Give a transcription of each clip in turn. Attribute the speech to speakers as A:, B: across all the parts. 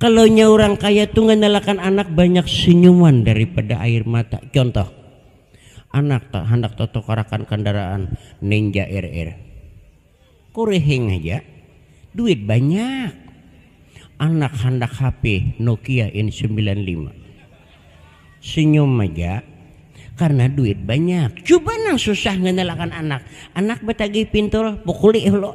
A: Kalau nya urang kaya tu ngandalakan anak banyak senyuman daripada air mata. Contoh, anak ta handak tatukarakan kandaraan Ninja RR. Kurihing haja, duit banyak. Anak handak HP Nokia N sembilan lima. Senyum haja, karena duit banyak. Cuba nang susah ngandalakan anak, anak batagih pintul, pukuli hulu.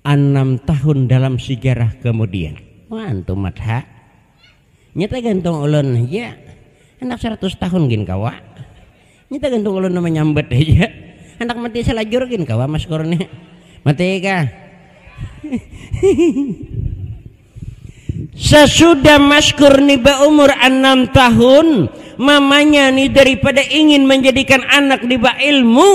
A: Anam tahun dalam sijarah kemudian. Wan tu mat ha. Nya tagantung ulun haja. Handak saratus tahun gin kawa. Nya tagantung ulun manyambat haja. Handak mati salajur gin kawa Mas Kurni. Mati kah? Sasudah Mashkur ni baumur anam tahun, mamanya ni daripada ingin manjadikan anak ni bailmu,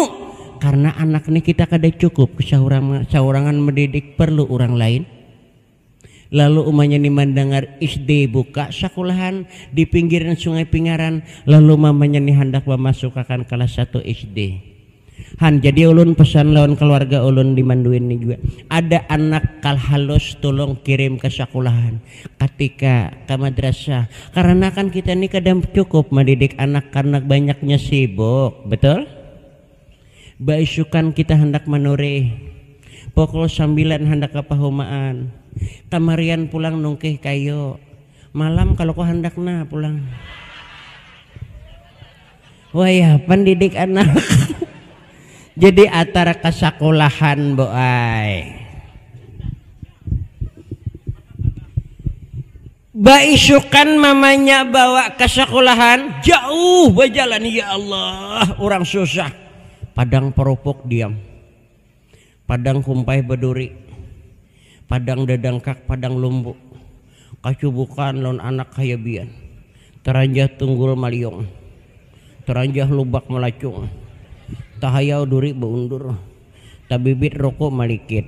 A: karna anak ni kita kada cukup saurangan mandidik parlu urang lain, lalu umanya ni mandangar SD buka sakulahan di pinggiran sungai Pingaran, lalu mamanya ni handak mamasukakan kalas satu SD. Han, jadi ulun pesan lawan keluarga ulun di Manduin ni jua, ada anak kal halus tulung kirim ke sakulahan, ka TK, ka madrasah, karena kan kita ni kada cukup madidik anak karena banyaknya sibuk, betul? Baisukan kita handak manurih, pukul sambilan handak ka pahumaan, kamarian pulang nungkih kayu, malam kaluku handak nah pulang. wayah pandidik anak jadi atar kasakulahan bu ai baisukan mamanya bawa ke sekolahan jauh berjalan ya Allah orang susah padang perupuk diam Padang kumpai baduri. Padang dadangkak padang lumbu. Kacubukan lawan anak hayabian. Taranjah tunggul maliung. Taranjah lubak malacung. Tahayau duri baundur. Tabibit ruku malikit.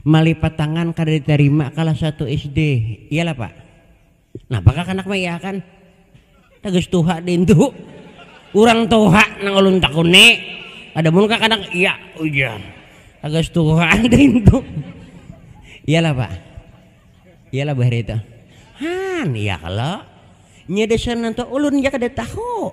A: Malipat tangan kada ditarima kalas satu SD, iyalah pak? Napa kakanak maiyahakan? Tagas tuha dintu, urang tuha nang ulun takuni, kada mun kakanak iya uja, tagas tuha dintu, iyalah pak? Iyalah bah hari itu, han iya kalo, nya dasar nantu ulun ja kada tahu.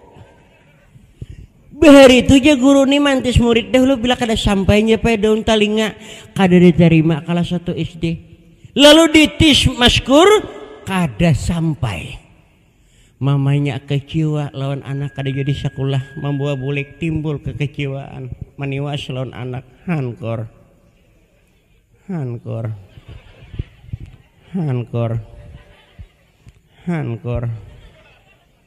A: Bahari itu ja guru ni mantis murid dahulu bila kada sampainya paya daun talinga kada diterima kalas satu SD. Lalu ditis maskur kada sampai. Mamanya kecewa lawan anak kada jadi sakulah mambawa bulik timbul kekecewaan maniwas lawan anak hankor hankor hankor hankor.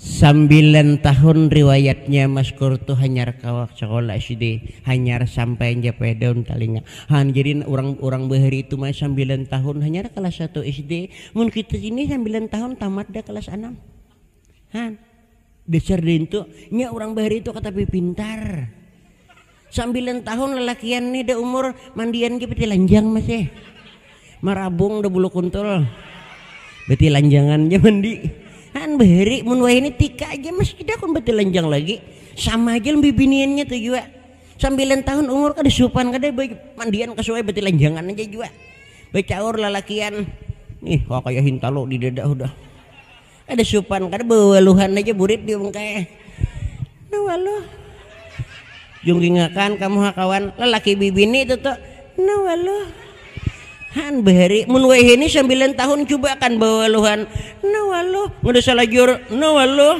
A: Sambilan tahun riwayatnya Maskur tu hanyar kawa sakolah SD, hanyar sampai anjapai daun talinga. Haan jadi nah urang urang bahari tu ma sambilan tahun hanyar kalas satu SD, mun kita sini sambilan tahun tamat dah kalas anam. Haan dasar dintu nya urang bahari tu katapi pintar. Sambilan tahun lalakian nih dah umur mandian gih betilanjang masih marabung dah bulu kuntul betilanjangan ja mandi haan bahari mun wayahini tika aja masih kada kun betilanjang lagi sama ja bibiniannya tuh jua sambilan tahun umur kada supan kada mandian kasuai betilanjangan aja jua bacaur lalakian ih kaya hintalu di dada hudah. Kada supan kada bawaluhan haja burit diung kaya eh. Nah waluh. Jungkingakan kamu ha kawan, lalaki bibini itu tu. Nah waluh. Haan bahari, mun wayahini sambilan tahun cubakan bawaluhan. Nah waluh. Kada salajur. Nah waluh.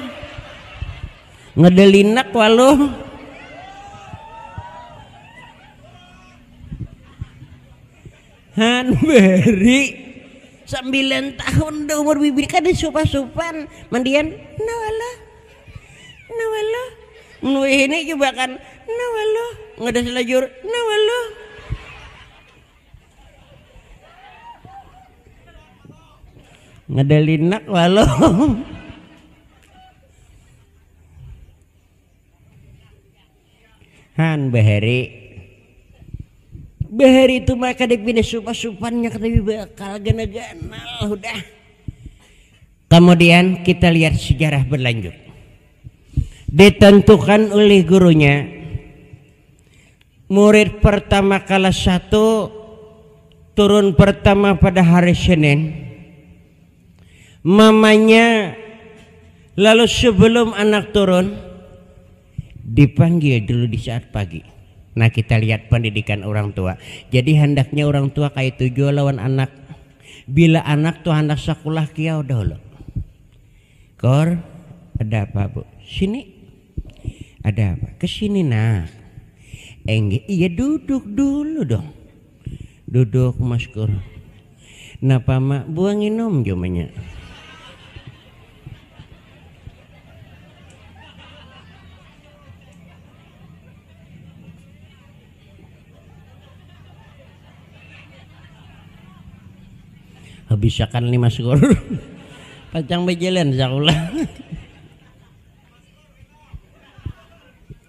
A: Kada linak waluh. Han beri sambilan tahun dah umur bibir kada supan-supan mandian nawala nawala mun ini coba kan nawala ngada salajur nawala ngada linak walo. Han bahari bahari itu mah kada pina supa-supannya kada bakal gana-ganal hudah kemudian kita lihat sejarah berlanjut ditentukan oleh gurunya murid pertama kelas satu turun pertama pada hari Senin Mamanya lalu sebelum anak turun dipanggil dulu di saat pagi. Nah kita lihat pendidikan orang tua. Jadi handaknya orang tua kayak itu jua lawan anak. Bila anak tuh handak sekolah kiau dahulu. Kor, ada apa bu? Sini. Ada apa? Kesini nak. Engge, iya duduk dulu dong. Duduk maskur. Napa ma, buah nginum jua manya. Habisakan ni maskur. Pacang bajalan sakulah.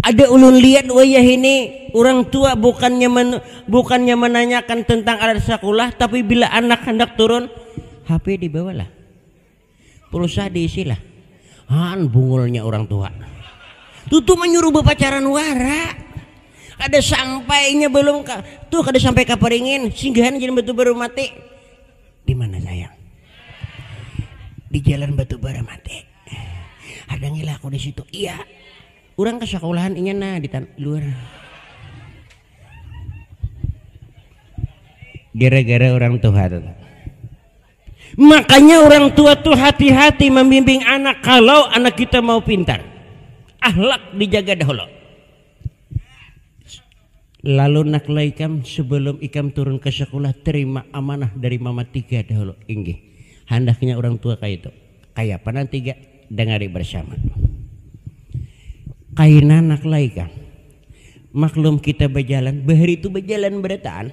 A: Ada ulun lihat wayah ini, urang tua bukannya men, bukannya menanyakan tentang alat sakulah, tapi bila anak handak turun, HP dibawalah. Pulsa diisilah. Haan bungulnya urang tua. Tutu menyuruh berpacaran wara. Kada sampainya belum ka, tuh kada sampai kaparingin, singgahan jalan batu baru mati. Di mana sayang? Di jalan batu bara mati. Ada ngilah aku di situ. Iya. Urang ke sakolahan inya nah di tanah luar. Gara-gara orang tua tuh. Makanya orang tua tuh hati-hati membimbing anak kalau anak kita mau pintar. Ahlak dijaga dahulu. Lalu naklah ikam sebelum ikam turun ke sekolah terima amanah dari mama tiga dahulu. Inggih. Handaknya orang tua kaya itu. Kaya apa nang tiga? Dengari bersama. Kaina naklah ikam. Maklum kita bejalan, bahari itu bejalan berataan.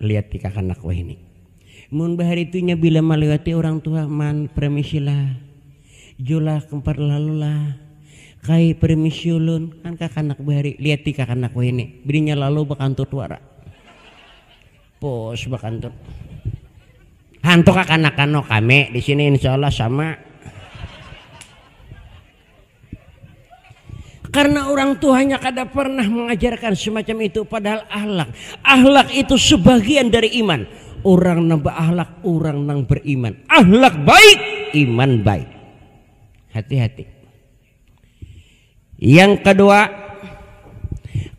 A: Lihat ti kakanak wahini. Mun bahari tu inya bila maliwati urang tuha man permisi lah. Julak kumpar lalu lah. Kai permisi ulun. Kan kakanak bahari. Lihat ti kakanak wahini. Bininya lalu bakantut wara. Pus bakantut. Hantu kakanakan no kami di sini insya Allah sama. Karena orang tuanya kada pernah mengajarkan semacam itu padahal ahlak. Ahlak itu sebagian dari iman. Orang nang berahlak orang nang beriman. Ahlak baik, iman baik. Hati-hati. Yang kedua,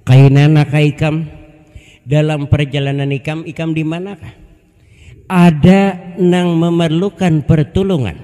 A: kainana kaikam dalam perjalanan ikam, ikam di manakah? Ada nang memerlukan pertolongan.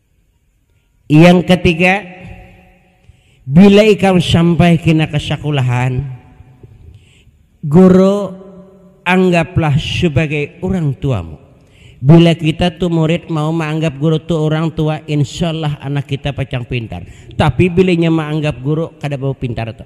A: Yang katiga, bila ikam sampai kina ka sakulahan, guru anggaplah sabagai urang tuamu. Bila kita tu murid mau maanggap guru tu urang tua, insyaallah anak kita pacang pintar. Tapi bila inya maanggap guru kada bapintar tu.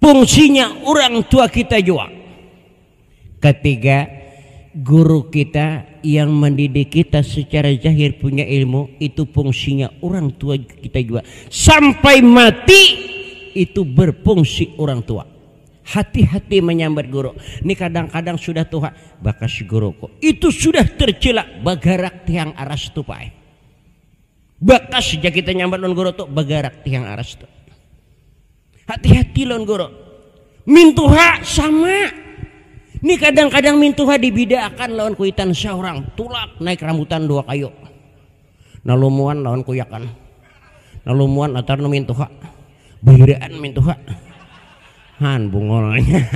A: Fungsinya urang tua kita jua. Katiga, guru kita yang mendidik kita secara zahir punya ilmu itu fungsinya urang tua kita jua. Sampai mati itu berfungsi urang tua. Hati-hati menyambat guru. Ini kadang-kadang sudah tua, bakas guruku. Itu sudah tercela bagarak tiang aras tupai. Bakas ja kita nyambat lawan goro tu bagarak tiang aras tu. Hati-hati lawan goro. Mintuha sama. Ni kadang-kadang mintuha dibidaakan lawan kuitan seorang tulak naik rambutan dua kayu. Nalumuan lawan kuyakan. Nalumuan latar nu mintuha. Bahiraan mintuha. Han bungolnya.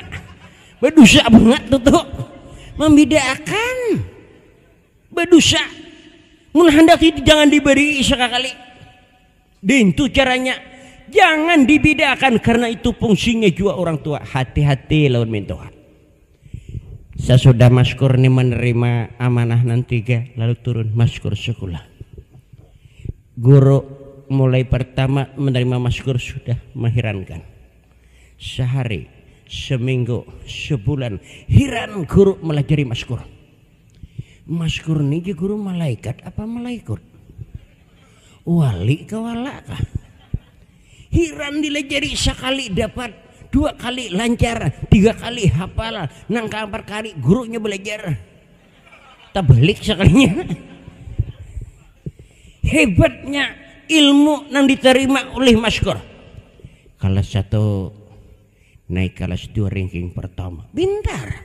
A: Badusa bangat tu tu. Mambidaakan. Badusa, mun handak itu jangan dibarii sakakali. Dintu caranya, jangan dibidaakan karna itu pungsinya jua urang tua, hati-hati lawan mintuha. Sasudah Maskur ni manarima amanah nang tiga, lalu turun Maskur sakulah. Guru mulai partama manarima Maskur sudah mahirankan. Sahari, saminggu, sabulan, hiran guru malajari Maskur. Maskur ni ja guru malaikat apa malaikut? Wali ka wala kah? Hiran dilajari sakali dapat, dua kali lancar, tiga kali hafal, nang kaampat kali gurunya belajar. Tabalik sakalinya. Hebatnya ilmu nang diterima oleh Maskur. Kelas satu naik kelas dua ranking pertama. Pintar.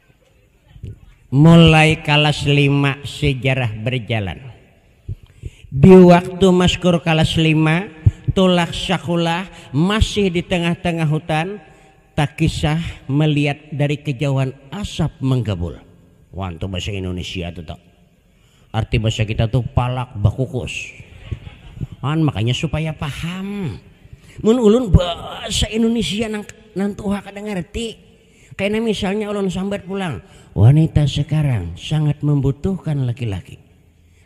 A: Mulai kalas lima sejarah berjalan. Di waktu Maskur kalas lima, tulak sakulah masih di tengah-tengah hutan, takisah meliat dari kejauhan asap menggabul. Wan tu bahasa Indonesia tu tau. Arti bahasa kita tuh palak bakukus. Kan makanya supaya paham. Mun ulun bahasa Indonesia nang nang tuha kada ngerti. Kena misalnya ulun sambat pulang, wanita sekarang sangat membutuhkan laki-laki.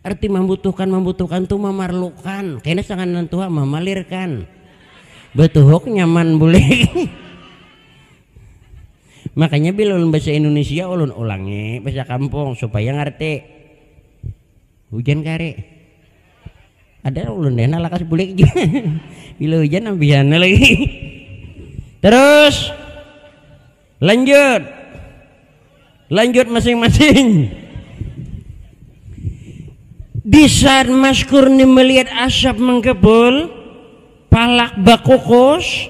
A: Arti membutuhkan membutuhkan tuh memerlukan. Kena sangat nang tuha memelirkan. Betuhuk nyaman boleh. Makanya bila ulun bahasa Indonesia ulun ulangi bahasa kampung supaya ngarti. Hujan kari. Ada ulun deh nah lakas bulik bila hujan ambihan lagi. Terus lanjut. Lanjut masing-masing. Di saat Mas Kurni melihat asap mengkepul, palak bakukus,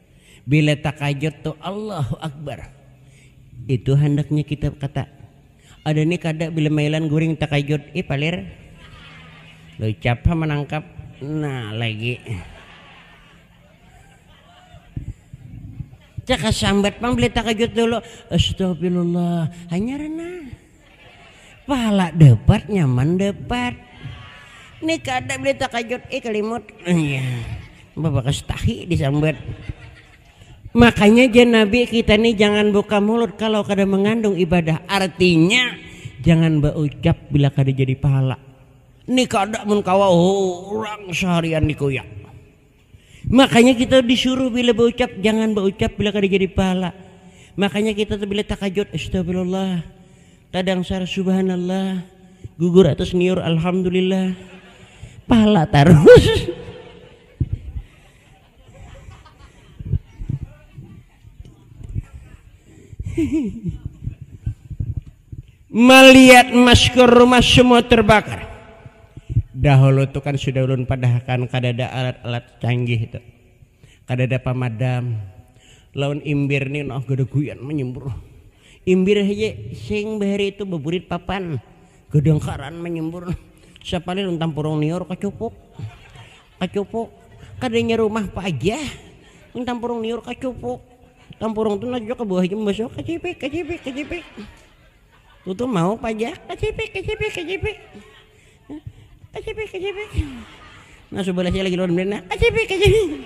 A: Bila takajut tu Allahu Akbar. Itu handaknya kita kata. Ada ni kada bila mailan guring takajut. Ih palir. Lucap ha manangkap. Nah lagi. Cakasambat pang bila takajut dulu. Astagfirullah. Hanyar nah. Pala dapat nyaman dapat. Ni kada beli takajut ih kalimut. Babakas tahi disambat. Makanya jar Nabi kita ni jangan buka mulut kalau kada mengandung ibadah. Artinya jangan baucap bila kada jadi pahala. Ni kada mun kawa urang saharian dikuyak. Makanya kita tuh disuruh bila baucap jangan baucap bila kada jadi pahala. Makanya kita tuh bila takajut astagfirullah, tadangsar subhanallah, gugur atas niur alhamdulillah. Pahala tarus. melihat masker rumah semua terbakar. Dahulu itu kan sudah ulun padahkan kada ada alat-alat canggih itu. Kada ada pamadam. Lawan imbir ni nah kada guyan menyembur. Imbir saja sing bahari itu beburit papan. Kadangkaran menyembur. Sapalih ulun tampurung niur kacupuk. Kacupu, kadanya rumah apa aja mun tampurung liur kacupu, tampurung tu najujak ka bawah haja mambasuh kacipik kacipik kacipik, tutu mau pajak kacipik kacipik kacipik kacipik kacipik nang subalah nya lagi lawan benda nang kacipik kacipik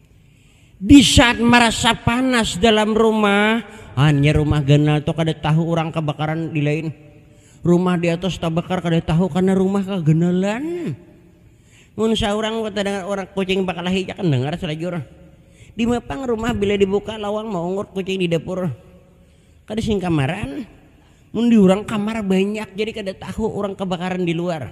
A: Di saat marasa panas dalam rumah, hanya rumah ganal tu kada tahu urang kabakaran di lain. Rumah di atas tabakar kada tahu karena rumah kaganalan. Mun saurang tadangar urang kucing bakalahi ja kan dangar salajur. Dima pang rumah bila dibuka lawang maungut kucing di dapur. Kada sing kamaran. Mun di urang kamar banyak jadi kada tahu urang kabakaran di luar.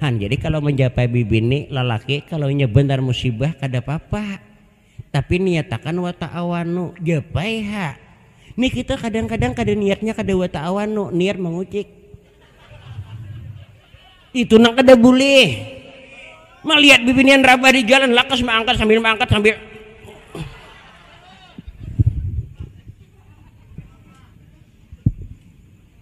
A: Han jadi kalau menjapai bibini lalaki kalau inya benar musibah kada papa tapi niatakan wa ta'awanu japai ha ni kita kadang-kadang kada niatnya kada wa ta'awanu niat mengucik itu nang kada boleh melihat bibinian rabah di jalan lakas mengangkat sambil mengangkat sambil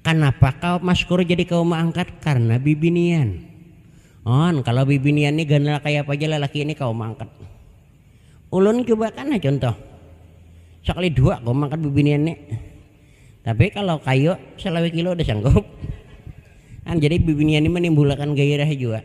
A: Kanapa kau maskur jadi ke uma angkat? Karna bibinian. On, kalo bibinian ni ganal kaya apa ja lalaki ini ka uma angkat. Ulun cuba kan ha cuntuh. Sakali dua ku mangkat bibinian ni. Tapi kalo kayu salawe kilo udah sanggup. An, jadi bibinian ni manimbulakan gairah jua.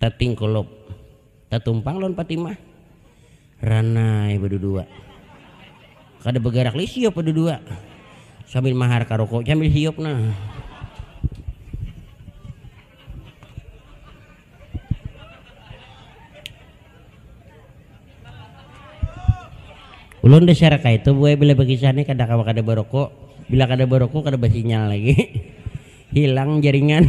A: Tatingkulup tatumpang lawan Patimah. Ranai badudua. Kada bagarak lagi siup badudua. Sambil mahar karuku sambil siup nah. Ulun dasar kaitu buai bila bakisah ni kada kawa kada baruku. Bila kada baruku kada basinyal lagi. Hilang jaringan.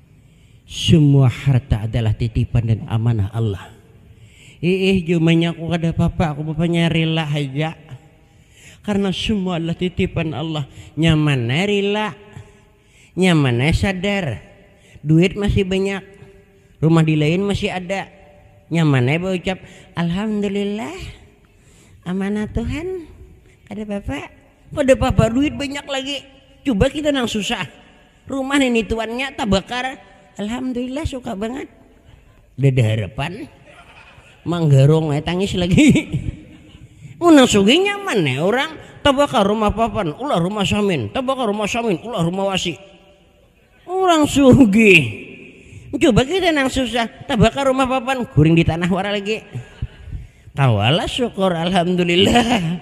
A: Semua harta adalah titipan dan amanah Allah. Iih jumanya aku kada papa aku papanya rila haja karena semua adalah titipan Allah nyaman ai rila nyaman ai sadar duit masih banyak rumah dilain masih ada nyaman ai baucap alhamdulillah amanah Tuhan kada papa kada papa duit banyak lagi cuba kita nang susah Rumah nini tuannya tabakar. Alhamdulillah suka banget. Dada harapan. Manggarong eh tangis lagi. Mun nang sugih nyaman eh orang. Tabakar rumah papan, ulah rumah samin. Tabakar rumah samin, ulah rumah wasi. Orang sugih. Coba kita nang susah, tabakar rumah papan, guring di tanah wara lagi. Kawala syukur alhamdulillah.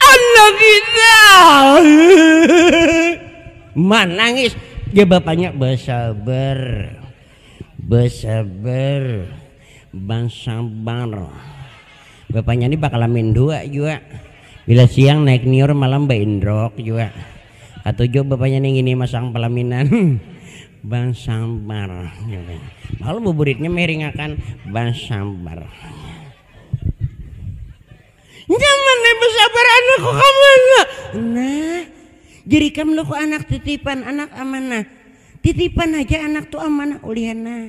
A: Anak kita manangis dia bapanya bersabar bersabar bersabar bapanya ini bakal lamin dua jua bila siang naik niur malam baindrok jua Katujuh bapanya nih gini masang palaminan basabar malu buburitnya meringakan basabar nyaman nih basabar anakku kamu anak nah jadi kamu lo anak titipan anak amanah titipan aja anak tuh amanah ulihan nah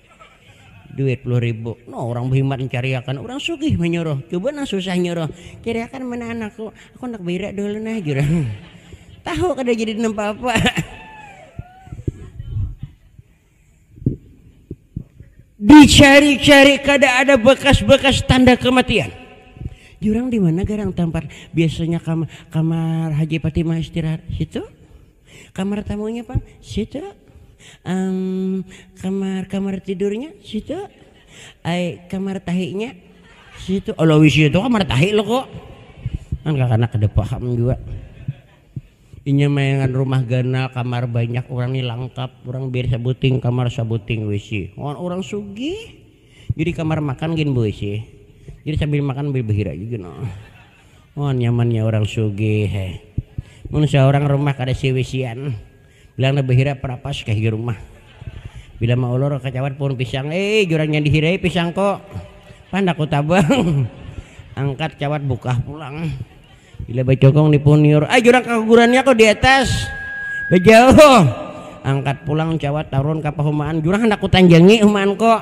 A: duit puluh ribu. No, orang behimat mencariakan, orang sugih menyuruh, coba nang susah nyuruh, cariakan mana anakku, aku handak bairak dahulu nah jar orang. Tahu kada jadi napa apa. Dicari-cari kada ada bekas-bekas tanda kematian. Jurang di mana garang tampar biasanya kam kamar Haji Fatimah istirahat situ? Kamar tamunya pang, situ. Am, kamar kamar tidurnya, situ. Ai, kamar tahinya, situ. Alah wc itu kamar tahi lo ko. Kan kakanak kada paham jua. Inya mayangan rumah ganal, kamar banyak, urang ni langkap, urang bir sabuting kamar, sabuting wc. Wan urang sugih. Jadi kamar makan gin be wc. Jadi sambil makan sambil bahira ja gin. Oh nyamannya orang sugih eh. Mun saurang rumah kada siwisian, bilang lebih hirap rapas ka higi rumah. Bila maulur kacawat puhun pisang, eh jurang nya dihirai pisang ko. Pandak ku tabang. Angkat cawat bukah pulang. Bila bacokong di puhun niur, ah jurang kagugurannya ko di atas. Bajauh. Angkat pulang cawat tarun ka pahumaan, jurang handak ku tanjangi humaan ko.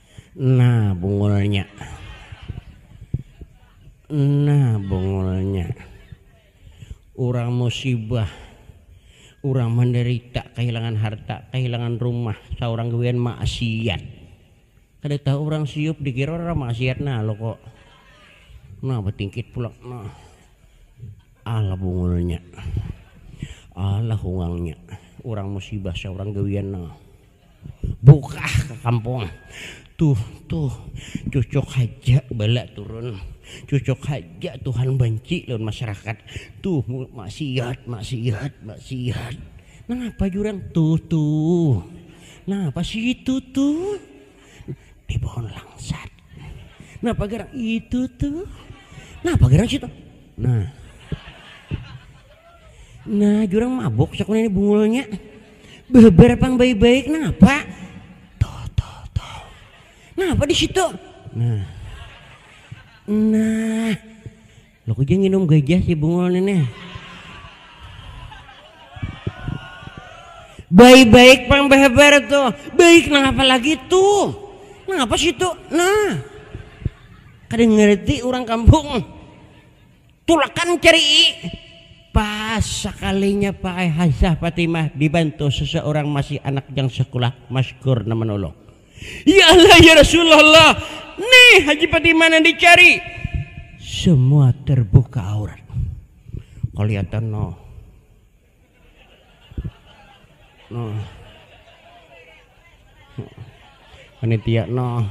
A: Nah bungulnya. Nah bungulnya. Urang musibah, urang manderita kahilangan harta, kahilangan rumah, saurang gawian maksiat. Kada tahu urang siup dikira urang maksiat nah loko. Nah batingkit pulang nah. Alah bungulnya. Alah hungangnya. Urang musibah saurang gawian nah. Bukah ka kampung. Tuh, tuh, cucuk haja bala turun. Cucuk haja Tuhan banci lawan masyarakat. Tuh, maksiat, maksiat, maksiat. Nangapa jurang? Tuh, tuh. Nangapa situ, tuh? Di pohon langsat. Napa garang itu tuh? Napa garang situ? Nah. Nah, jurang mabok sakuna ini bungulnya. Behebar pang baik-baik, napa? Toh, toh, toh. Napa di situ? Nah. Nah. Lo kuja nginum gajah si bungul ini. Baik-baik pang behebar tuh. Baik napa lagi tuh? Napa situ? Nah. Kada ngerti orang kampung. Tulakan cari'i. Pas sakalinya pakai hazah Fatimah dibantu seseorang masih anak jang sekulah masykur nang menolong. Ya Allah ya Rasulullah nih Haji Fatimah nang dicari. Semua terbuka aurat. Kelihatan noh. Nah. Panitia no.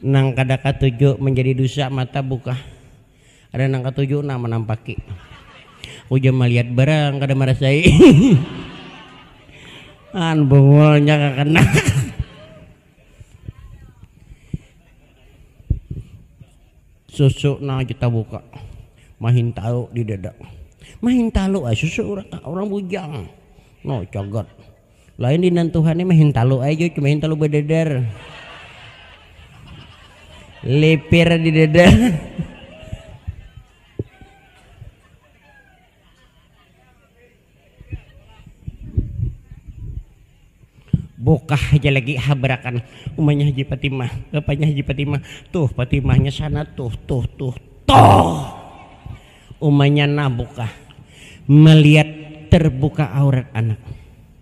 A: Nang kada katuju manjadi dusa mata buka. Ada nang katuju nah manampaki. Ujar malihat barang kada marasai. An bungulnya kakena. Susu nang kita buka mahintalu di dada mahintalu ai susu orang bujang no cagat lain di nantuhan ni mahintalu ai jua cuma hintalu badadar lipir di dada. Bukah haja lagi habarakan umanya Haji Patimah, bapanya Haji Patimah, tuh Patimahnya sana tuh, tuh, tuh, tuh. Umanya nah bukah melihat terbuka aurat anak.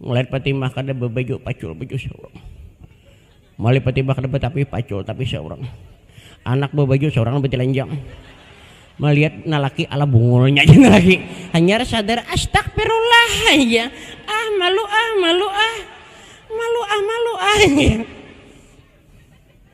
A: Mulai patimbah kada babaju pacul baju saurang. Mulai patimbah kada batapi pacul tapi saurang. Anak babaju saurang batilanjang. Malihat nalaki ala bungulnya ja nalaki. Hanyar sadar astagfirullah jar. Ah malu ah malu ah. Malu ah malu ah jar.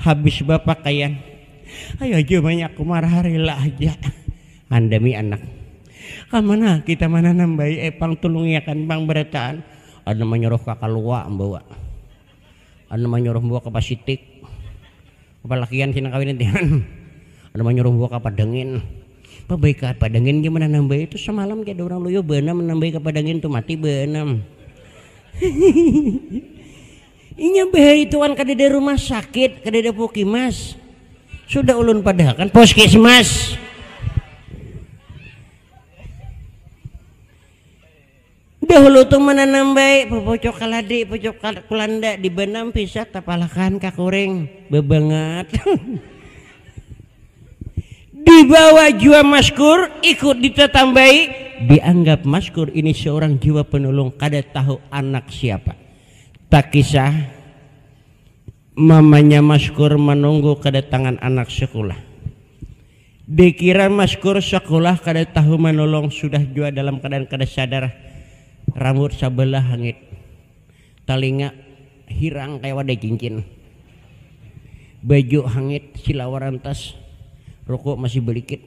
A: Habis bapakaian, Ai aja banyak kumar harila aja. Andami anak, Kamana kita mananam bayi ai pang tulungiakan pang barataan. Anum manyuruh ka kalua mbawa. Anum manyuruh mbawa ka pasitik. Balakian si nang kawin nanti. Anum manyuruh mbawa ka padangin. Babaik ka padangin ja mananam bayi tu samalam ja ada urang luyuh baanam mananam bayi ka padangin tu mati baanam. Inya bahaituan kadada rumah sakit, kadada pukimas. Sudah ulun padahakan puskesmas. Dahulu tu menanam baik, pucuk kaladi, pucuk kulanda, di banam pisak tapalakan kakuring, babangat. Dibawa jua maskur, ikut ditatambai, dianggap maskur ini seorang jiwa penulung kada tahu anak siapa. Takisah, mamanya Maskur manunggu kadatangan anak sekulah. Dikira Maskur sekulah kada tahu manulung sudah jua dalam keadaan kada sadar, rambut sabalah hangit, talinga hirang kaya wadai cincin, baju hangit silawar rantas, ruku masih balikit.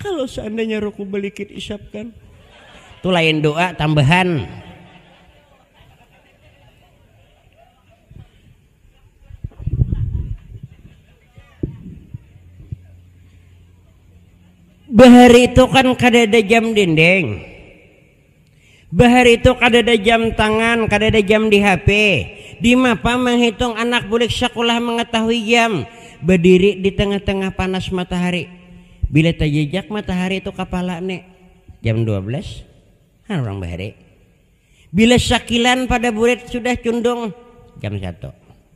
A: Kalo seandainya ruku belikit isap kan. Tu lain doa tambahan. Bahari tu kan kadada jam dinding. Bahari tu kadada jam tangan, kadada jam di HP. Dimapa manghitung anak bulik sakulah mangatahui jam? Badiri di tangah-tangah panas matahari. Bila tajajak matahari tu kapala ni, jam dua belas ha urang bahari. Bila sakilan pada burit sudah cundung, jam satu.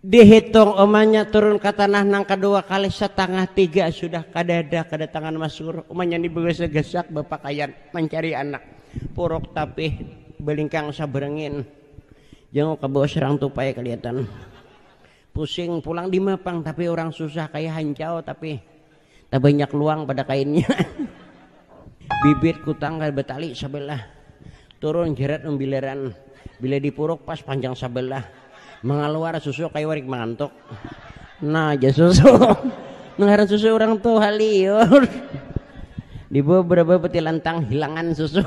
A: Dihitung umanya turun ke tanah nang kedua kali setengah tiga sudah kada ada kedatangan Mas Gur. Umanya ni begesak-gesak bepakaian mencari anak. Puruk tapih belingkang saberengin. Jenguk ke bawah serang tupai kelihatan. Pusing pulang di mapang tapi orang susah kaya hancau tapi tak banyak luang pada kainnya bibit kutang kada batali sabelah turun jerat umbilaran bila dipuruk pas panjang sabelah mengaluar susu kayu warik mangantuk nah aja susu mengaran susu orang tuh haliur di beberapa peti lantang hilangan susu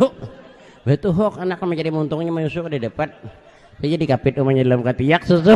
A: betul hok anak menjadi muntungnya menyusu kada dapat saya jadi kapit umanya dalam katiak susu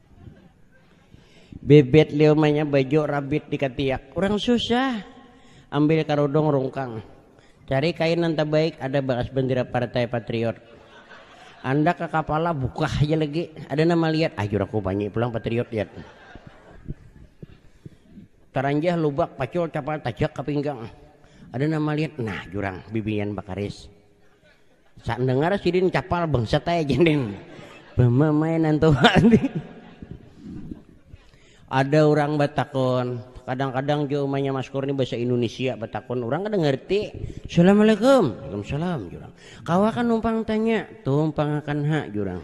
A: Bebet liumanya baju rabit di katiak. Urang susah. Ambil karudung rungkang. Cari kain nang tabaik ada bakas bendera partai patriot. Andak ka kapala bukah haja lagi. Ada nang maliat, ajur aku banyi pulang patriot liat. Taranjah lubak pacul capal tajak ka pinggang. Ada nang maliat, nah jurang bibinian bakaris. Sak dengar sidin capal bangsat ae jendin. Pemamainan tuh. Ada orang batakon, kadang-kadang jo umanya maskur ni bahasa Indonesia batakon orang kada ngerti. Assalamualaikum. Waalaikumsalam jurang. Kawa kan numpang tanya, tumpang akan ha jurang.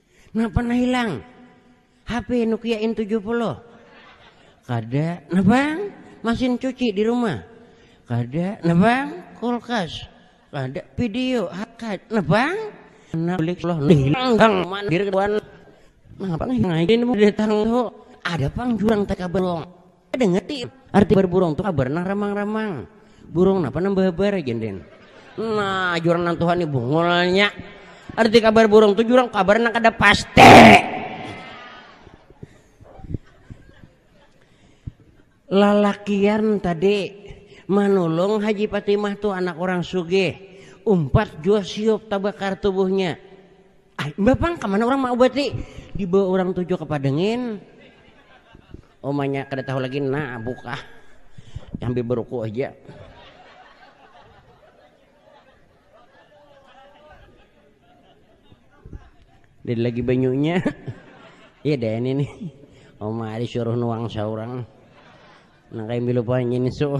A: Napa nah hilang? HP Nokia N70. Kada, nah bang? Masin cuci di rumah. Kada, nah bang? Kulkas. Kada, video, hakad. Nah bang? Anak kulik loh, hilang bang, mandir kawan. Nah bang, ngain mau datang tuh. Ada pang jurang tak kabelong. Dengar ti, arti berburung tu kabar nang ramang-ramang. Burung napa nang bahabar aja den. Nah, jurang nang Tuhan ni bungulnya. Arti kabar burung tu jurang kabar nang kada pasti. Lalakian tadi manulung Haji Patimah tu anak orang sugih. Umpat jua siup tabakar tubuhnya. Ah, mbah pang kemana orang mau bati? Dibawa orang tujuh ke padengin. Omanya kada tahu lagi nah buka. Sambil beruku aja. Dari lagi banyunya. Iya deh ini nih. Oma ada suruh nuang seorang. Nah kayak milu panjin so.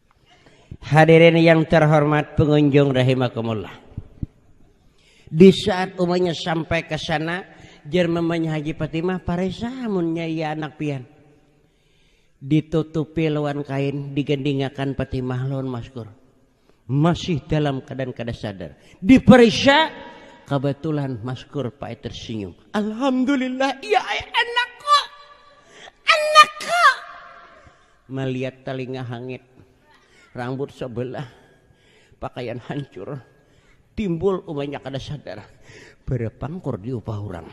A: Hadirin yang terhormat pengunjung rahimakumullah. Di saat umanya sampai ke sana, jer mamanya Haji Fatimah paresa munnya iya anak pian. Ditutupi lawan kain, digendingakan Fatimah lawan maskur. Masih dalam keadaan kada sadar. Diperiksa, kebetulan maskur pae tersenyum. Alhamdulillah, iya anak Maliat talinga hangit, rambut sabelah, pakaian hancur, timbul umanya kada sadar, barapangkur diupah urang,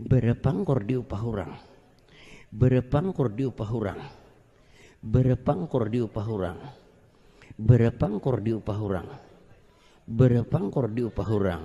A: barapangkur diupah urang, barapangkur diupah urang, barapangkur diupah urang, barapangkur diupah urang, barapangkur diupah urang,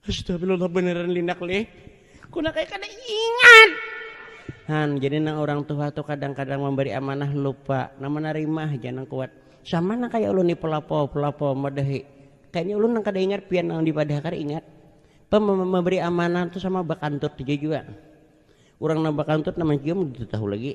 A: Astagfirullah beneran linak leh. Kuna kaya kada ingat. Han, jadi nang orang tuha tu kadang-kadang memberi amanah lupa. Nang menarima haja nang kuat. Sama nang kaya ulun ni pelapo, pelapo madahi. Kayaknya ulun nang kada ingat pian nang dipadahakan ingat. Pe memberi amanah tu sama bakantut haja jua. Urang nang bakantut nang mancium kada tahu lagi.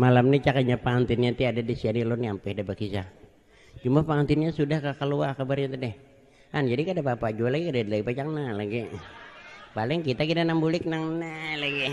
A: Malam ni cakanya pangantinnya ti ada di sini lo nyampe ada berkisah. Cuma pangantinnya sudah ke keluar kabarnya tadi. Kan jadi kada apa-apa jua lagi kada lagi pacang nah lagi. Paling kita kita nang bulik nang nah lagi.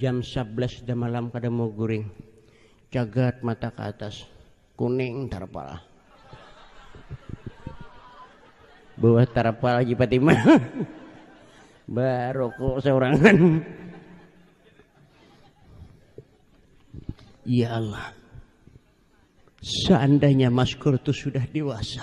A: Jam sablas damalam kada mau guring. Cagat mata ka atas. Kuning tarpal. Buah tarpal Haji Patimah. Barokok saurangan. Ya Allah. Seandainya Mas Kur itu sudah dewasa.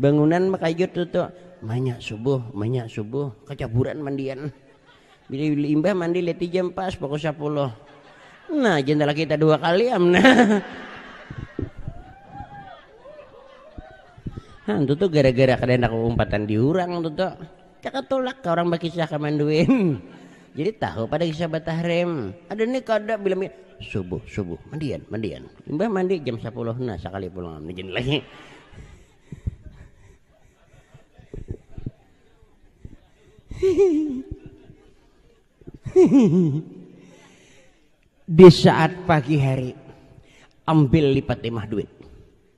A: Bangunan makayut tutu. Manyak subuh, manyak subuh. Kacaburan mandian. Bila imbah mandi leti jam pas pukul sapuluh. Nah, jendela kita dua kali am. Nah. Nah, tutu gara-gara kada hendak umpatan diurang tutu. Cakap tulak ka orang bakisah ka manduin. Jadi tahu pada kisah batahrim. Ada ni kada bila mandi. Subuh, subuh, mandian, mandian. Imbah mandi jam sapuluh nah sakali pulang mandian lagi. Di saat pagi hari ambil lipat imah duit.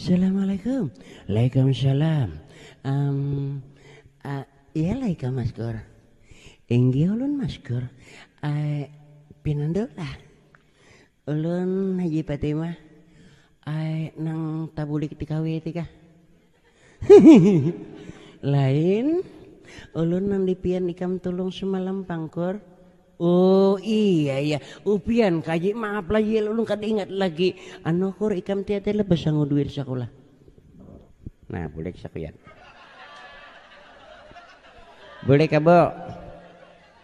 A: Assalamualaikum. Waalaikumsalam. Am, a, iya lah ikam Maskur. Inggih ulun Maskur. A, pinandu lah. Ulun Haji Patimah. A, nang tabulik di KW ti kah? Hihihi lain ulun nang di pian ikam tulung semalam pang kur. Oh iya iya upian ka ji maaf lah ji ulun kada ingat lagi anu kur ikam tiada lah basangu duit sakulah. Nah bulik sakuyan. Bulik ka bu.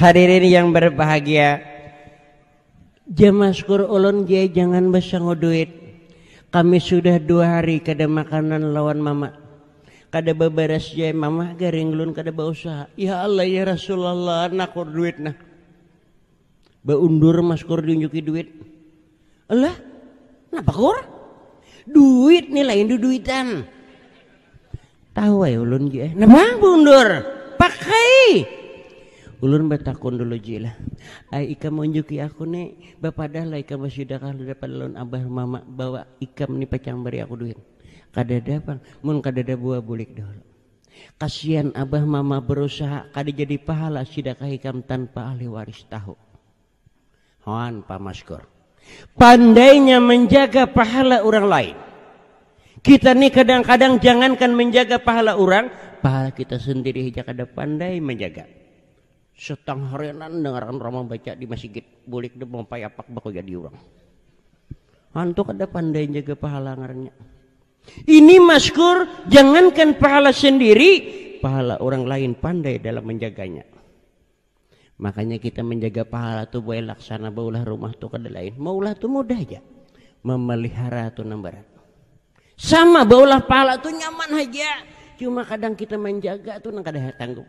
A: Hadirin yang berbahagia, jamaskur ulun jai jangan basangu duit. Kami sudah dua hari kada makanan lawan mama. Kada babaras jai mama garing ulun kada bausaha. Ya Allah ya Rasulullah nakur duit nah. Beundur mas kur diunjuki duit. Alah, napa kur? Duit nih lain du duitan. Tahu ay ulun ji eh. Napa beundur? Pakai. Ulun batakun dulu ji lah. Ay ikam unjuki aku nih, bapadah lah ikam basida kah dapat lawan abah mama bawa ikam nih pacang bari aku duit. Kadada pang, mun kadada buah bulik dahulu. Kasian abah mama berusaha kada jadi pahala sida ka hikam tanpa ahli waris tahu. Hoan pa maskur. Pandainya menjaga pahala orang lain. Kita ni kadang-kadang jangankan menjaga pahala orang, pahala kita sendiri saja kada pandai menjaga. Setang harianan dengar orang membaca di masjid, bulik dia mempayapak baku jadi orang. Hantu kada pandai jaga pahala ngarannya. Ini maskur, jangankan pahala sendiri, pahala orang lain pandai dalam menjaganya. Makanya kita menjaga pahala tu buai laksana baulah rumah tu kada lain. Maulah tu mudah aja. Memelihara tu nang berat. Sama baulah pahala tu nyaman aja. Cuma kadang kita menjaga tu nang kada sanggup.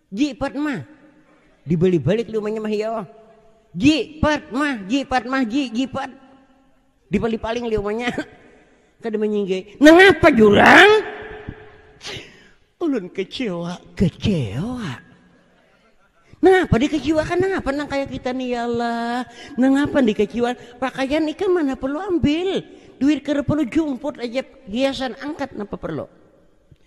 A: Ji Padma. Dibalik-balik liu manyamah iya oh. Ji Padma, Ji Padma, Ji, Ji Pad. Dipali-paling liu manya. Kada manyinggai. Nangapa jurang? Ulun kecewa, kecewa. Nangapa dikecewakan? Nangapa nang kaya kita nih ya Allah? Nangapa dikecewakan? Pakaian ikam mana perlu ambil? Duit kada perlu jumput aja hiasan angkat napa perlu?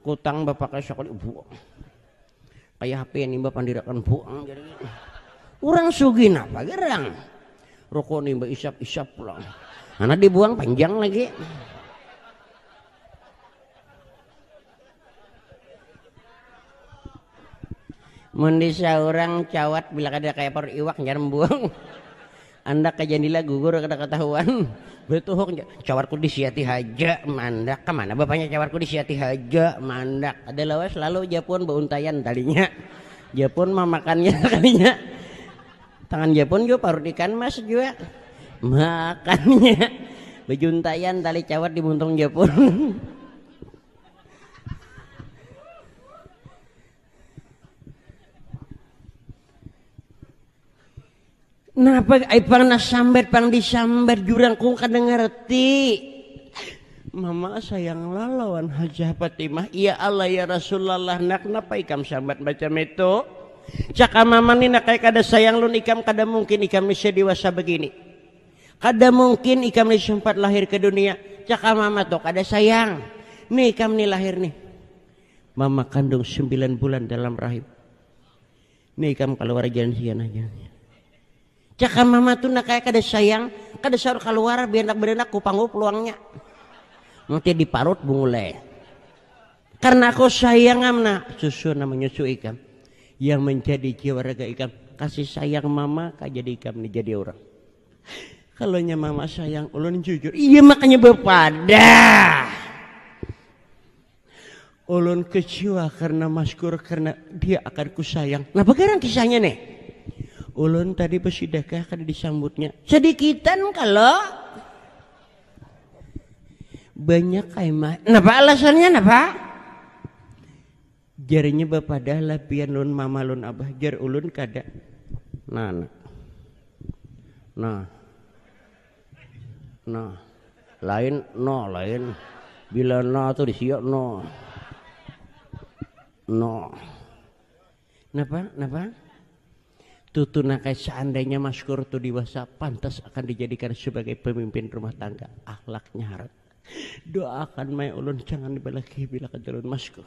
A: Kutang bapakai sakali buang. Kaya HP nimba pandirakan buang jadi. Urang sugih napa gerang. Rokok nimba isap-isap pulang. Anak dibuang panjang lagi. Mendisa orang cawat bila kada kaya par iwak jangan buang. Andak ka jandila gugur kada katahuan. Betuhuk ja, cawarku disiati haja mandak. Kamana bapanya cawarku disiati haja mandak. Kada lawas lalu japun bauntaian talinya. Japun mamakannya talinya. Tangan japun jua parut ikan mas jua. Makannya. Bejuntaian tali cawat di muntung japun. Napa ai pang nak sambat pang disambat jurang kung kada ngerti. Mama sayang lawan Hajah Fatimah. Ya Allah ya Rasulullah nak napa ikam sambat macam itu. Caka mama ni nak kada sayang lun ikam kada mungkin ikam ni sedewasa begini. Kada mungkin ikam ni sempat lahir ke dunia. Caka mama tuh kada sayang. Nih ikam ni lahir nih. Mama kandung sembilan bulan dalam rahim. Nih ikam kaluar jangan hianah jangan hianah. Cakam mama tu nak kaya kada sayang, kada saur kaluar bianak beranak kupanggu peluangnya. Nanti di parut bungulai. Karena aku sayang am nak, susu nak menyusu ikam. Yang menjadi jiwa raga ikam, kasih sayang mama kaya jadi ikam ni jadi orang. Kalau nya mama sayang ulun jujur, iya makanya bepadah. Ulun kecewa karena maskur karena dia akan kusayang. Napa garang kisahnya nih? Ulun tadi besidakah kada disambutnya. Sedikitan kalau banyak kaimah. Napa alasannya napa? Jarinya bapadah lah pian lun mama lun abah. Jar ulun kada. Nah, nah. Nah. Nah, lain no lain bila no tuh disiok no no napa napa tutunakai seandainya Mas Kur tuh dewasa pantas akan dijadikan sebagai pemimpin rumah tangga akhlaknya harat doakan mai ulun jangan dibalakihi bila kajalun Mas Kur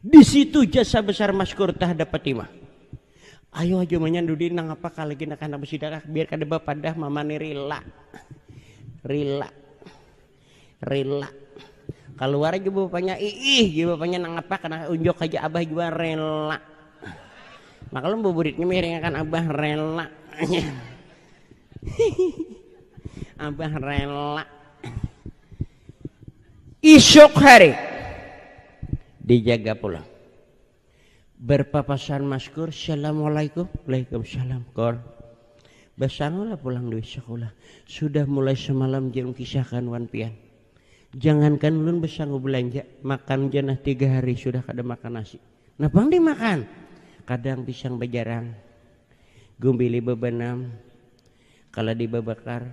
A: Di situ jasa besar maskur tahadap Patimah. Ayo aja manyandu di nangapa kalagi nak anak besidarak biar kada bapadah mama ni rila. Rila. Rila. Keluar aja bapaknya iih ya bapaknya nangapa kena unjuk aja abah jua rela. Maklum buburitnya miringakan abah rela. abah rela. Isuk hari dijaga pulang. Berpapasan maskur, Assalamualaikum. Waalaikumsalam, Kor. Basangulah pulang duit sekolah. Sudah mulai semalam jangan kisahkan wan pian. Jangankan ulun besangu belanja, makan janah tiga hari sudah kada makan nasi. Napang dimakan? Kadang pisang bejarang, gumbili bebenam, kaladi bebakar,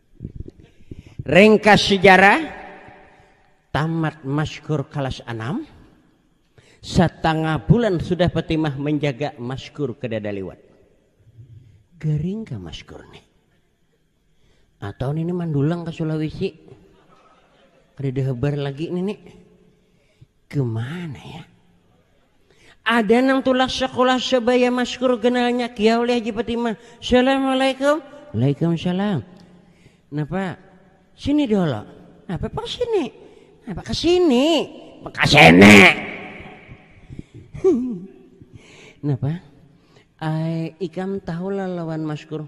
A: Ringkas sejarah tamat maskur kelas 6 setengah bulan sudah Fatimah menjaga maskur ke dada liwat gering ke maskur nih atau ini mandulang ke Sulawesi kada ada hebar lagi ini nih Kemana ya? Ada nang tulak sekolah sebaya maskur kenalnya kia oleh Haji Fatimah. Assalamualaikum. Waalaikumsalam. Napa? Sini dulu. Apa pak sini? Apa ke sini? Ke sini. Napa? Ay, ikam tahulah lawan maskur.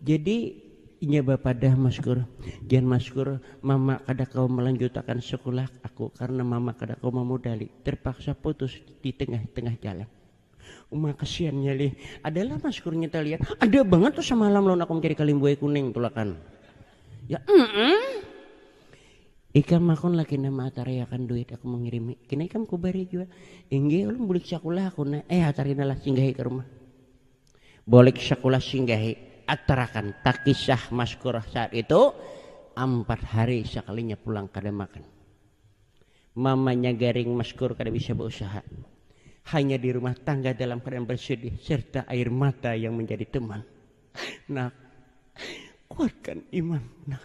A: Jadi inya bapadah maskur, Jan maskur, mama kada kawa malanjutakan sakulah aku karna mama kada kawa mamodali, tarpaksa putus di tengah-tengah jalan. Uma kasiannya lih, adalah maskurnya talian, ada bangat tu samalam lawan aku mancari kaling buai kuning tulakan. Ya emm, ikam makun laki nah maatariakan duit aku mangirimi, kina ikam kubari jua. Inggih ulun bulik sakulah aku nah, eh hatari nah lah singgahi ka rumah. Bulik sakulah singgahi atarakan takisah maskurah saat itu ampat hari sakalinya pulang kada makan. Mamanya garing maskur kada bisa bausaha. Hanya di rumah tangga dalam keadaan bersedih serta air mata yang menjadi teman. Nak, kuatkan iman nak.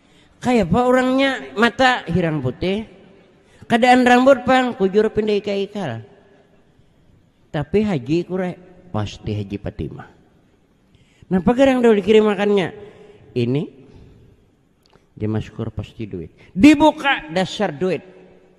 A: Kayapa urangnya mata hirang putih. Kadaan rambut pang kujur pinda ika-ikal. Tapi haji kure pasti haji Patimah. Napa garang dahulu dikirimakannya? Ini Jemaskor pasti duit. Dibuka dasar duit.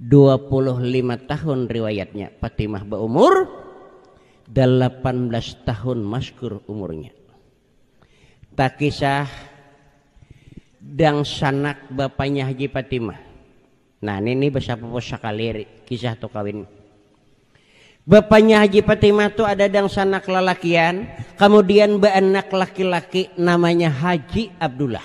A: 25 tahun riwayatnya Fatimah baumur 18 tahun maskur umurnya takisah dangsanak bapanya Haji Fatimah nah ini nih besapupu sekali kisah tu kawin Bapaknya Haji Fatimah tuh ada dangsanak lalakian, kemudian beranak laki-laki namanya Haji Abdullah.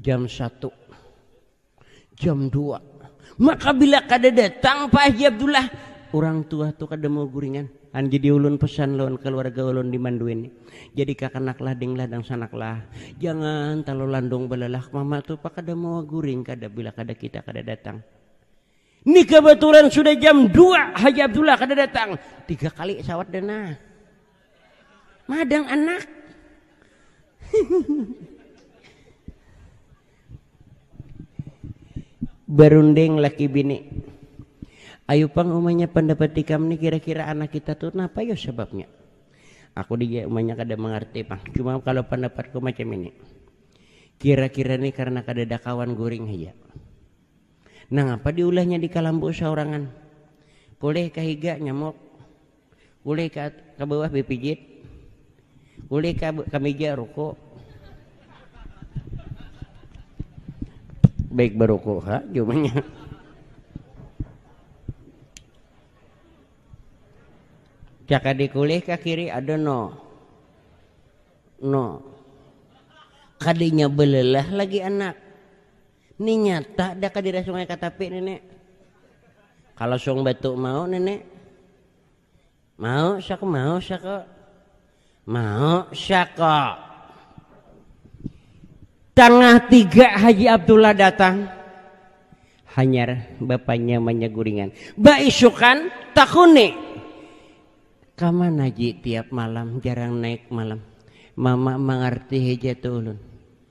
A: Jam satu. Jam dua. Maka bila kada datang Pak Haji Abdullah, orang tua tu kada mau guringan. Kan jadi ulun pesan lawan keluarga ulun di Manduin ni. Jadi kakanak lah ding lah dangsanak lah. Jangan talu landung balalah mama tu Pak kada mau guring kada bila kada kita kada datang. Ni kebetulan sudah jam dua Haji Abdullah kada datang. Tiga kali sawat dana. Madang anak. Berunding laki bini. Ayu pang umanya pendapat ikam ni kira-kira anak kita tuh napa yo sebabnya? Aku di umanya kada mengerti pang. Cuma kalau pendapatku macam ini. Kira-kira ni karena kada ada kawan guring haja. Nangapa diulahnya di kalambu saurangan? Uleh ka higa nyamuk. Uleh ka, ka bawah bipijit. Uleh ka, ka meja ruku. Baik baruku ha jumanya. Cakadik uleh ka kiri ada no. No. Kadinya belelah lagi anak Ni nyata da ka dira sungai katapi nini kalo sung batu mau nini mau sako mau sako mau sako tangah tiga haji abdullah datang hanyar bapanya manyaguringan baisukan takuni kamana ji tiap malam jarang naik malam mama mangarti haja tu ulun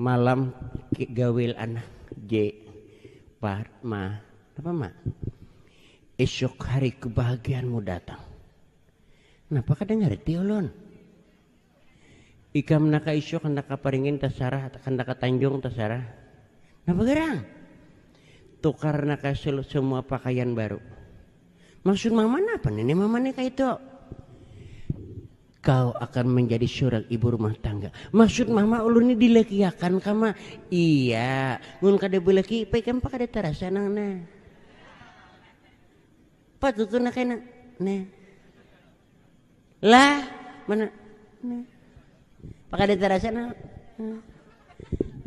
A: Malam gawil anak je par ma napa ma esok hari kebahagiaanmu datang napa kada ngarti ulun ikam naka isuk handak ka paringin tasarah handak ka tanjung tasarah napa garang tukar naka semua pakaian baru maksud mama napa nini mama ni kaitu. Kau akan menjadi seorang ibu rumah tangga. Maksud mama ulun ni dilekiakan kama. Iya, mun kada beleki ipai kan kada terasa nang nah. Patut tu nak kena. Nah. Lah, mana? Nah. Pakada terasa nah.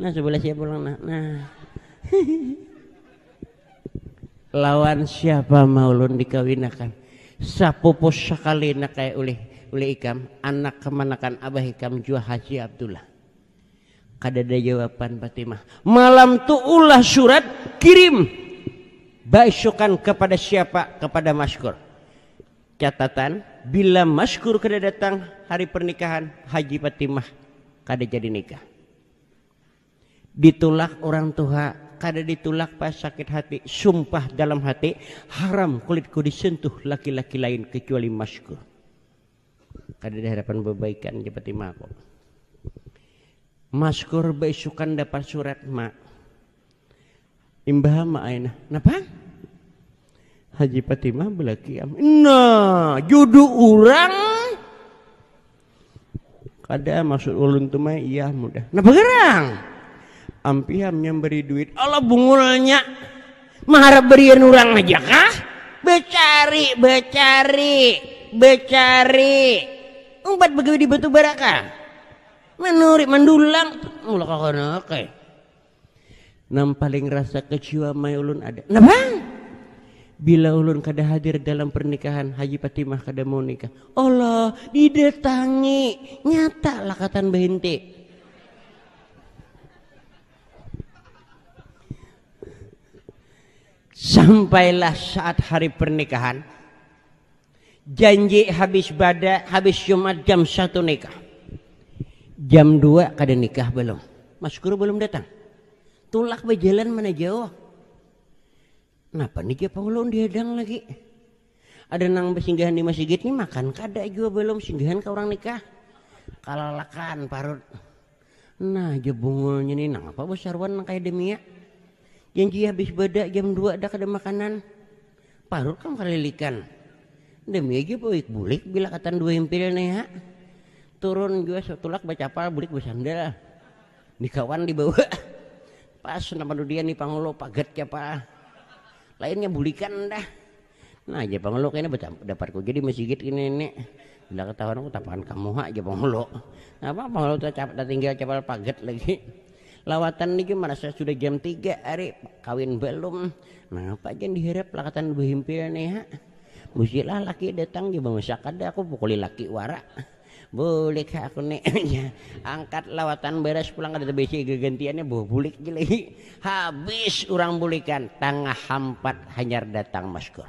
A: Nah, sebelah siapa pulang nah. Nah. Lawan siapa ma ulun dikawinakan? Sapupu sakali nak kaya ulih ulih ikam, anak kemanakan abah ikam jua Haji Abdullah. Kadada jawapan Patimah. Malam tu ulah surat kirim baisukan kepada siapa? Kepada Maskur. Catatan, bila Maskur kada datang hari pernikahan, Haji Patimah kada jadi nikah. Ditulak urang tuha, kada ditulak pas sakit hati, sumpah dalam hati, haram kulitku disentuh laki-laki lain kecuali masku. Kada diharapan bebaikan jar batimaku. Maskur beisukan dapat surat, Ma. Imbah ma ai nah, napang? Haji Fatimah belaki am. Nah, judu orang kada maksud ulun tu mah iya mudah. Napa gerang? Ampiham yang beri duit. Allah bungulnya. Maharap berian orang aja kah? Becari, becari, becari. Umpat begawi di batu baraka. Menuri, mendulang. Mula kakana, okay. Nam paling rasa kecewa mai ulun ada. Napa? Bila ulun kada hadir dalam pernikahan Haji Patimah kada mau nikah. Allah, didatangi. Nyata lakatan bahinti. Sampailah saat hari pernikahan. Janji habis bada, habis Jumat jam satu nikah. Jam dua kada nikah belum. Mas Guru belum datang. Tulak berjalan mana jauh. Kenapa nih japa ulun dihadang lagi? Ada nang bersinggahan di masjid nih makan kada jua belum singgahan ke orang nikah. Kalalakan parut. Nah jebungulnya nih nang apa besarwan nang kaya demia. Janji habis beda jam dua dah kada makanan. Parut kam kalilikan. Demi aja baoik bulik bila katan dua impil ne ha. Turun jua satulak bacapal bulik basandal. Ni kawan di bawa. Pas nang panudian ni Pangulo pagat capal. Lainnya bulikan dah. Nah jar Pangulo kena dapat ko ja di masigit kena ini. Bila katahuan aku tapakan kamu ha jar Pangulo. Napa Pangulo tatinggal capal pagat lagi. Lawatan ni gin marasa sudah jam tiga hari, kawin balum. Napa gin diharap lakatan bahimpil ni ha. Busilah laki datang ja bamasak kada aku pukuli laki wara. Bulik ha aku ni angkat lawatan baras pulang kada tabisi gagantiannya buh bulik ja lagi. Habis urang bulikan tangah hampat hanyar datang maskur.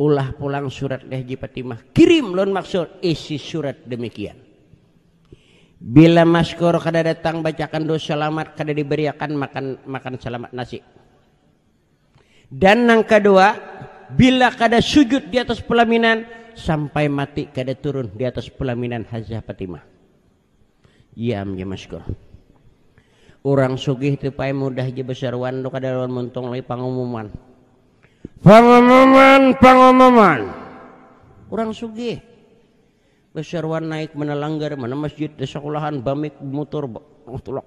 A: Ulah pulang surat deh Haji Patimah. Kirim lawan maksud isi surat demikian. Bila Maskoro kada datang bacakan doa salamat kada dibariakan makan makan salamat nasi. Dan nang kadua, bila kada sujud di atas pelaminan sampai mati kada turun di atas pelaminan Hajah Patimah. Diam ja maskur. Urang sugih tu pai mudah ja basaruan tu kada lawan muntung lagi pangumuman. Pangumuman, pangumuman. Urang sugih basaruan naik mana langgar, mana masjid, da sakulahan, bamik, bamutur, ba- tulak.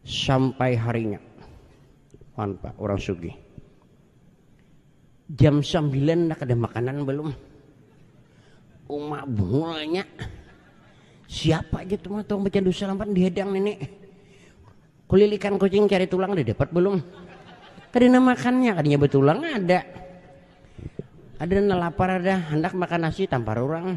A: Sampai harinya wan pa urang sugih jam sambilan nda kada makanan balum uma bungulnya siapa ja tu tukang bacandu salaman di hadang nini kulilikan kucing cari tulang nda dapat balum kada nang makannya kadinya batulang ada ada nang lapar ada handak makan nasi tampar urang.